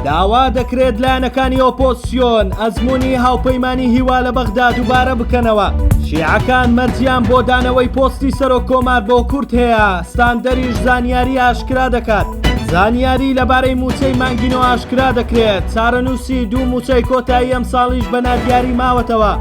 داوا دەکرێت لایەنەکانی ئۆپۆزسیۆن ئەزمموی هاوپەیمانانی هیوا لە بەغدا دووبارە بکەنەوە شیعەکان مەرجیان بۆ دانەوەی پۆستی سەرۆک کۆمار بۆ کورت هەیە ستاندەریش زانیاری ئاشکرا دەکات زانیاری لەبارەی موچەی مانگینۆ ئاشکرا دەکرێت چارەنووسی دوو موچەی کۆتایی ئەم ساڵیش بە نادیاری ماوەتەوە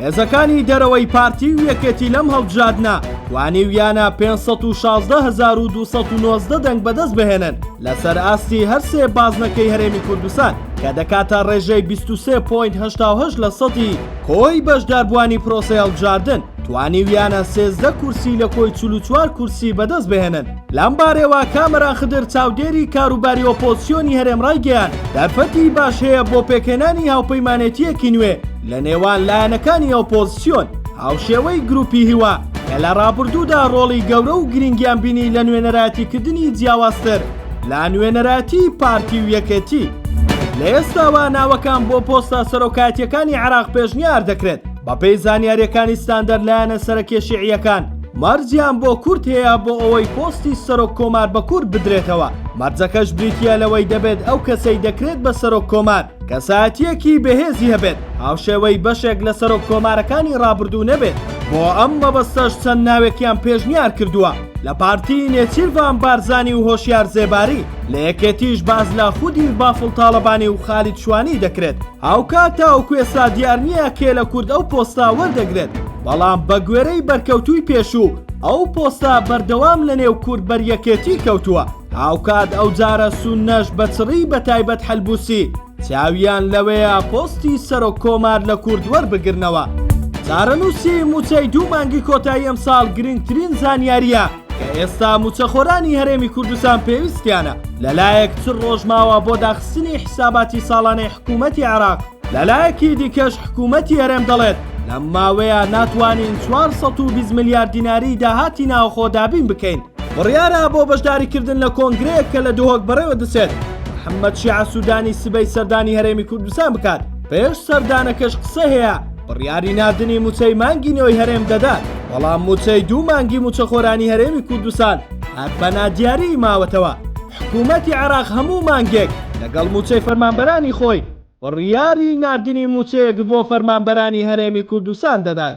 هێزەکانی دەرەوەی پارتی و یەکێتی لەم هەڵبژادنا وانیویانە 516 1290 دەنگ بەدەست بهێنن لەسەر ئاستی هەر سێ بازنەکەی هەرێمی کوردستان کە دەکاتە ڕێژەی 23.8 لە سەدی کۆی بەشداربووانی پرۆسەی هەڵبژاردن توانیویانە سێزدە کورسی لە کۆی چل و چوار کورسی بەدەست بهێنن لەم بارەوە کامەران خدر چاودێری کاروباری ئۆپۆزسیۆنی هەرێم ڕایگەیاند دەرفەتی باش هەیە بۆ پێکهێنانی هاوپەیمانێتییەکی نوێ لە نێوان لایەنەکانی ئۆپۆزسیۆن هاوشێوەی گروپی هیوا کە لە ڕابردوودا ڕۆڵی گەورە و گرنگیان بینی لە نوێنەراتیکردنی جیاوازتر لە نوێنەراتی پارتی و یەکێتی. لە ئێستاوە ناوەکان بۆ پۆستە سەرۆکایەتییەکانی عێراق پێشنیار دەکرێت، بەپێی زانیارییەکانی ستاندەر لایەنە سەرەکییە شیعییەکان مەرجیان بۆ کورد هەیە بۆ ئەوەی پۆستی سەرۆک کۆمار بە کورد بدرێتەوە، مەرجەکەش بریتییە لەوەی دەبێت ئەو کەسەی دەکرێت بە سەرۆک کۆمار، کەسایەتییەکی بەهێزی هەبێت، هاوشێوەی بەشێک لە سەرۆک کۆمارەکانی ڕابردوو نەبێت، بۆ ئەم مەبەستەش چەند ناوێکیان پێشنیار کردووە، لە پارتی نێچیرڤان بارزانی و هۆشیار زێباری، لە یەکێتیش باس لە خودی بافڵ تاڵەبانی و خالید شوانی دەکرێت. هاوکات تاوەکو ئێستا دیار نییە کێ لە کورد ئەو پۆستە وەردەگرێت، بەڵام بە گوێرەی بەرکەوتووی پێشوو، ئەو پۆستە بەردەوام لە نێو کورد بەر یەکێتی کەوتووە. هاوکات ئەوجارە سوننەش بە چڕی بەتایبەت حەلبوسی چاویان لەوەیە پۆستی سەرۆک کۆمار لە کورد وەربگرنەوە. چارەنووسی مووچەی دوو مانگی کۆتایی ئەمساڵ گرنگترین زانیارییە کە ئێستا مووچەخۆرانی هەرێمی کوردستان پێویستیانە، لەلایەک چل ڕۆژ ماوە بۆ داخستنی حیساباتی ساڵانەی حکوومەتی عێراق، لەلایەکی دیکەش حکوومەتی هەرێم دەڵێت، لەم ماوەیە ناتوانین چوار سەد و بیست ملیار دیناری داهاتی ناوخۆ دابین بکەین. بڕیارە بۆ بەشداریکردن لە کۆنگرەیەک کە لە دهۆک بەڕێوە دەچێت، محەممەد شیاع سوودانی سبەی سەردانی هەرێمی کوردستان بکات، پێش سەردانەکەش قسەی هەیە بڕیاری ناردنی مووچەی مانگی نۆی هەرێم دەدات، بەڵام مووچەی دوو مانگی مووچەخۆرانی هەرێمی کوردستان هەر بە نادیاریی ماوەتەوە، حکوومەتی عێراق هەموو مانگێک لەگەڵ مووچەی فەرمانبەرانی خۆی، بڕیاری ناردنی مووچەیەک بۆ فەرمانبەرانی هەرێمی کوردستان دەدات.